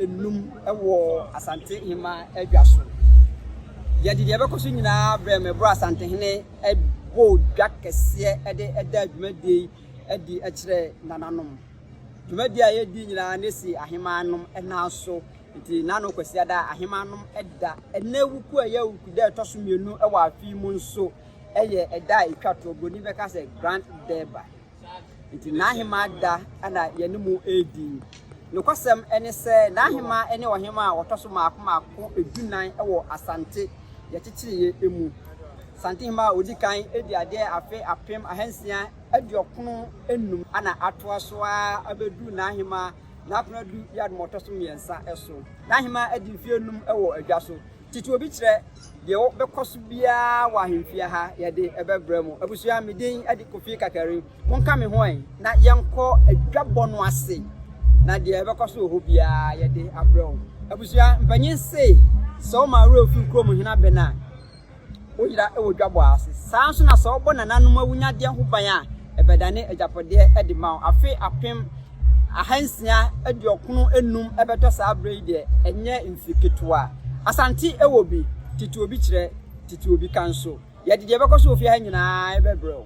nnum wɔ Asante Hemaa adwa so. Yɛde deɛ ɛbɛkɔ so nyinaa brɛ me bro Asantehene bɔ dwa kɛseɛ de da dwumadie yi adi kyerɛ nananom. Dwumadie a yɛdi nyinaa ne si ahemaanom nan so. Nti nano Kwasi Ada ahemaanom da ɛnɛ wuku a ɛyɛ wuku dɛ ɛtɔ so mmienu wɔ afe yi mu nso ɛyɛ ɛda a ɛtwa toɔ. Buroni bɛka sɛ Grand Durbar. Nti n'ahemaa da na yɛne mo redi. Nokwasɛm ne sɛ, n'ahemaa ne ɔhemaa a wɔtɔ so mmaako mmaako dunan wɔ Asante yɛkyekyereeɛ mu. Santehemaa a ɔdi kan di adeɛ afe apem ahansia aduɔkron nnum na atoa so ara abɛduru n'ahemaa N'akonadu Yaadom a ɔtɔ so mmiɛnsa so. N'ahemaa adi mfeɛ nnum wɔ adwa so. Tete obi kyerɛ deɛ wɔbɛkɔ so biara wɔ ahemfie ha yɛde ɛbɛbrɛ mo. Abusua, me din de Kofi Kakari. Monka me ho ɛ na yɛnkɔ adwabɔ no ase na deɛ ɛbɛkɔ so wɔ hɔ biara yɛde abrɛ wo. Abusua, mpanyin se sɛ woma awerɛ fi kurom hena bɛn a, Woyera wɔ dwabɔ ase. Saa ara nso na sɛ wɔbɔ nananom awunyadeɛ ho ban a, ɛbɛdane agyapadeɛ de ma wo. Afe apem ahansia aduɔkono nnum bɛtɔ saa berɛ yi deɛ, ɛnyɛ mfe ketewa. Asante wɔ bi, tete obi kyerɛ, tete obi ka nso. Yɛde deɛ ɛbɛkɔ so wɔ fie ha nyinaa bɛbrɛ wo.